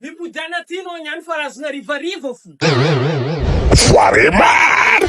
Mipody any aty no agny any fa azony harivariva fo. Foire maro!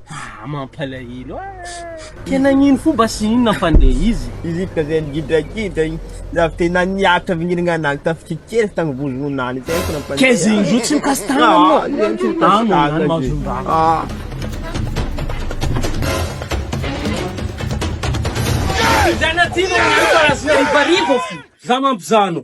Ah, mampalahelo ah! Ka nagnino fo mba sy inona fa ndeha izy? Izy ka zay nigidragidra iny, avy teo na niaritra avy nirigna anazy tamin'ny fitia kely avy tagny Bozona any zay fo nampandeha. Kay zay indroa tsy mikasy tagna Ah, anao. zay tsy mikasy Tagna tagna ihany zay. mahazon-draha. Ah. Zanatsimo miasa azy na rivarivo fo. Za mampizano.